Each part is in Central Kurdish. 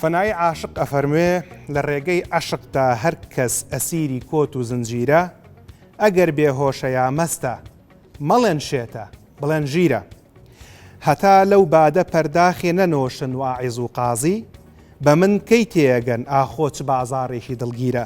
فەنایی عاشق ئەفەرموێ لە ڕێگەی عەشقدا هەر کەس ئەسیری کۆت و زنجیرە ئەگەر بێ هۆشە یا مەستە مەڵێن شێتە بڵێن ژیرە هەتا لەو بادە پەرداخێ نەنۆشن و عیز و قازی بە من کەی تێگەن ئاخۆ چ بازاڕێکی دڵگیرە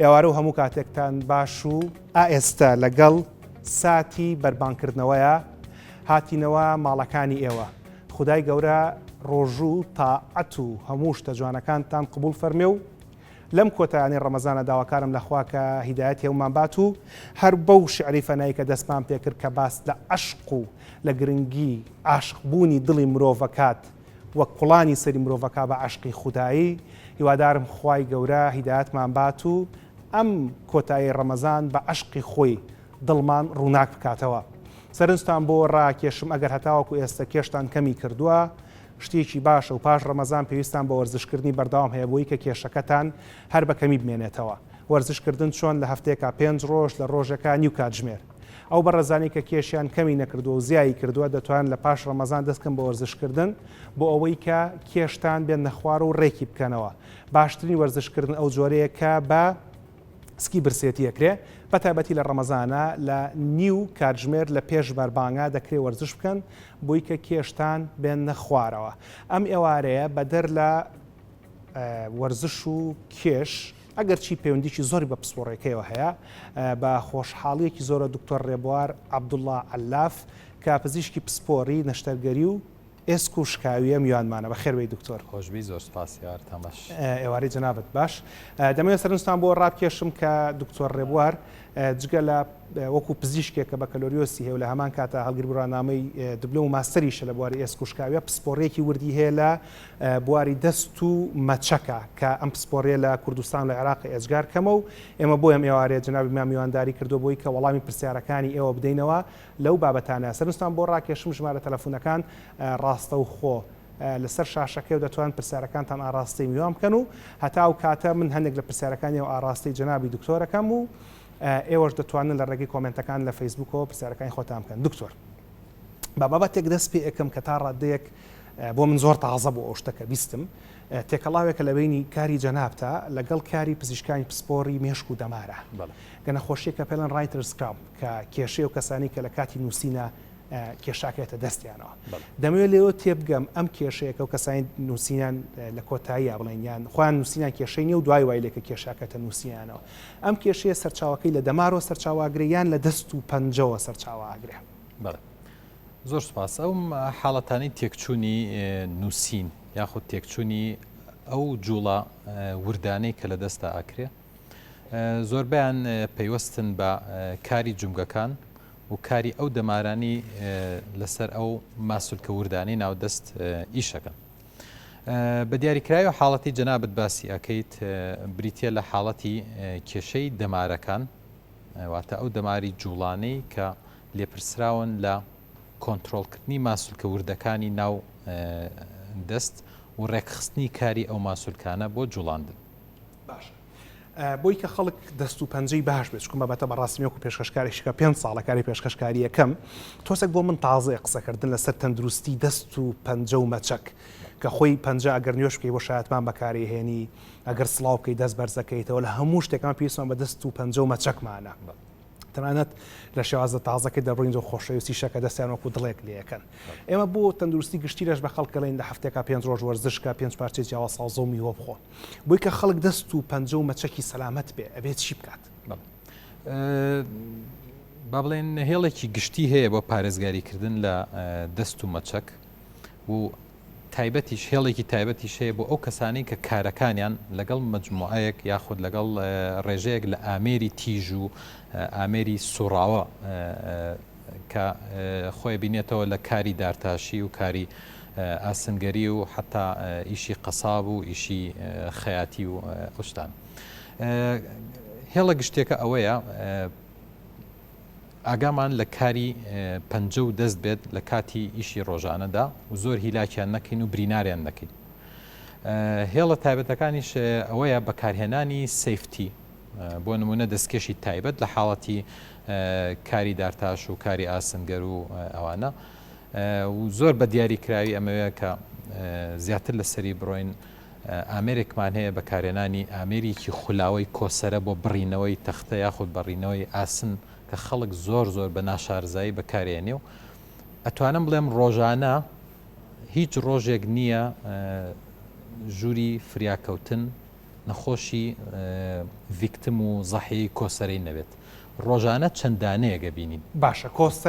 ئێوارە و هەموو کاتێکتان باش و. ئائێستە لە گەڵ ساتی بەربانگ کردنەوەیە هاتینەوە ماڵەکانی ئێوە خودای گەورە ڕۆژو تا عەت و هەموو شتە جوانەکانتان قبوڵ فەرمێ و لەم کۆتایانەی ڕەمەزانە داواکارم لە خوا کە هیدایەتی هەموومان بات و هەر بەو شعری فەنای کە دەستمان پێ کرد کە باس لە عەشق و لە گرنگی عاشق بوونی دڵی مرۆڤ ئەکات وەک کوڵانی سەری مرۆڤەکا بە عەشقی خودایی هیوادارم خوای گەورە هیدایەتمان بات و ئەم کۆتایی ڕەمەزان بە عەشقی خۆی دڵمان ڕووناک بکاتەوە سەرنجتان بۆ ڕاکێشم ئەگەر هەتاوەکو ئێستە کێشتان کەمی کردووە شتێکی باشە و پاش ڕەمەزان پێویستان بە وەرزشکردنی بەردەوام هەیە بۆی کە کێشەکەتان هەر بە کەمی بمێنێتەوە وەرزشکردن چۆن لە هەفتەیەکا پێنج ڕۆژ لە ڕۆژێکا نیو کاتژمێر ئەو بەڕێزانەی کە کێشیان کەمی نەکردووە و زیایی کردووە دەتوانن لە پاش ڕەمەزان دەست کەن بە وەرزشکردن بۆ ئەوەی کە کێشتان بێننە خوار و ڕێکی بکەنەوە باشترین وەرزشکردن ئەو جۆرەیە کە بە سکی برسێتی ئەکرێ بە تایبەتی لە ڕەمەزانە لە نیو کاتژمێر لە پێش بەربانگا دەکرێ وەرزش بکەن بۆی کە کێشتان بێننە خوارەوە ئەم ئێوارەیە بەدەر لە وەرزش و کێش ئەگەرچی پەیوەندیی زۆری بە پسپۆڕییەکەیەوە هەیە، بە خۆشحاڵییەکی زۆرە دکتۆر رێبوار عەبدوڵا عەللاف کە پزیشکی پسپۆری، نەشتەرگەری و ئێسک و شکاوییە، میوانمانە. بەخێر بێی دکتۆر. خۆشبی زۆر سپاس یار تەمەش. ئێوارەی جەنابت باش. دەمەوێت سەرنجتان بۆ رابکێشم کە دکتۆر رێبوار جگە لە وەکو پزیشکێک کە بەکەلۆریۆسی هەیە و لە هەمان کاتا هەڵگری بڕوانامەی دبلۆم و ماستەریشە لە بواری ئێسک و شکاوییە، پسپۆڕییەکی وردی هەیە لە بواری دەست و مەچەکە کە ئەم پسپۆریە لە کوردستان و عێراق ئێجگار کەمە و ئێمە بۆی ئەم ئێوارەیە جەنابیمان میوانداری کردووە بۆی کە وەڵامی پرسیارەکانی ئێوە بدەینەوە لەو بابەتانە سەرنجتان بۆ ڕاکێشم ژمارە تەلەفونەکان ڕاستەوخۆ لەسەر شاشەکەی و دەتوان پرسیارەکانتان ئاڕاستەی میوان بکەن و هەتا ئەو کاتە من هەندێک لە پرسیارەکانی و ئاڕاستەی جەنابی دکتۆرەکەم و ئێوەش دەتوانن لە ڕێگەی کۆمنتەکان لە فەیسبوکەوە پرسیارەکانی خۆتان بکەن دکتۆر بە بابەتێک دەست پێ ئەکەم کە تا ڕادەیەک بۆ من زۆر تازە بوو ئەو شتە کە بیستم، تێکەڵاوێکە لە بەینی کاری جەنابتا لەگەڵ کاری پزیشکانی پسپۆری مێشک و دەمارە. گە نەخۆشیەکە پێڵێن ڕایترس کراپ کە کێشەیە و کەسانی کە لە کاتی نووسینە کێشاکێتە دەستیانەوە. دەمەوێت لێەوە تێبگەم ئەم کێشەیەکە و کەسانی نووسینیان لە کۆتاییە بڵێن یان خۆیان نووسینیان کێشەی نیە و دوای وای لێکە کێشاکەتە نووسیانەوە. ئەم کێشەیە سەرچاوەکەی لە دەمارۆ سەرچاواگرێ یان لە دەست و پەنجەوە سەرچاواگرێ. زۆر سوپاس ئەو حاڵەتانی تێکچوونی نووسین یاخود تێکچوونی ئەو جوڵە وردانەی کە لە دەستا ئاکرێ زۆربیان پەیوەستن بە کاری جومگەکان و کاری ئەو دەمارانی لەسەر ئەو ماسولکە وردانی ناودەست ئیشەکەن. بە دیاریکراوی و حاڵەتی جەنابەت باسی ئەەکەیت بریتە لە حاڵەتی کێشەی دەمارەکان واتە ئەو دەماری جوڵانەی کە لێپرسراون لە کۆنترۆڵکردنی ماسولکە وردەکانی ناو دەست و ڕێکخستنی کاری ئەو ماسولکانە بۆ جوڵاندن. باشە بۆی کە خەڵک دەست و پەنجەی باش بێت چکم بابەتە بەڕاستیەکو پێشکەشکارێکشکە پێ ساڵە کاری پێشکەشکاریەکەم تۆسەک بۆ من تازەیە قسەکردن لەسەر تەندروستی دەست و پەنجە و مەچەک کە خۆی پەنجە ئەگەر نوێش بکەی بۆ شایەتمان بەکاری هێنی ئەگەر سلااو بکەی دەست بەرزەکەیتەوە لە هەموو شتێکان پێویستمان بە دەست و پەنجە و مەچەکمانە تەنانەت لە شێوازە تازەکە دەبڕین و خۆشەویستی شەکە دەستیان وەکو دڵێک لەکەن ئێمە بۆ تەندروستی گشتی لەش بە خەڵکەڵین لە هەفتێکا پێنج ڕۆژ وەرزشکە پێنج پارچێ جیاوا سازۆ میوە بخۆ بۆی کە خەڵک دەست و پەنجە و مەچەکی سەلامەت بێ ئەبێت چی بکات با بڵێن نەهێڵێکی گشتی هەیە بۆ پارێزگاریکردن لە دەست و مەچەک و تایبەتیش هێڵێکی تایبەتیش هەیە بۆ ئەو کەسانەی کە کارەکانیان لەگەڵ مەجموعەیەک یاخود لەگەڵ ڕێژەیەک لە ئامێری تیژ و ئامێری سوڕاوە کە خۆی بینێتەوە لە کاری دارتاشی و کاری ئاسنگەری و حتا ئیشی قەساب و ئیشی خەیاتی و ئەوشتان هێڵە گشتێکە ئەوەیە ئاگامان لە کاری پەنجە و دەست بێت لە کاتی ئیشی ڕۆژانەدا و زۆر هیلاکیان نەکەین و بریناریان نەکەین. هێڵە تایبەتەکانیش ئەوەیە بەکارهێنانی سیفتی بۆ نمونە دەستکێشی تایبەت لە حاڵەتی کاری دارتاش و کاری ئاسنگەر و ئەوانە زۆر بە دیاری کراوی ئەمەوەیە کە زیاتر لەسەری بڕۆین ئامێرێکمان هەیە بەکارهێنانی ئامێریکی خولاوەی کۆسەرە بۆ بڕینەوەی تەختە یاخود بەڕینەوەی ئاسن کە خەڵک زۆر زۆر بە ناشارزایی بەکاریئەنێ و ئەتوانم بڵێم ڕۆژانە هیچ ڕۆژێک نییە ژووری فریاکەوتن نەخۆشی ڤیکتم و زەحیەی کۆسەرەی نەبێت ڕۆژانە چەندانەیەگە بینین باشە کۆسەرە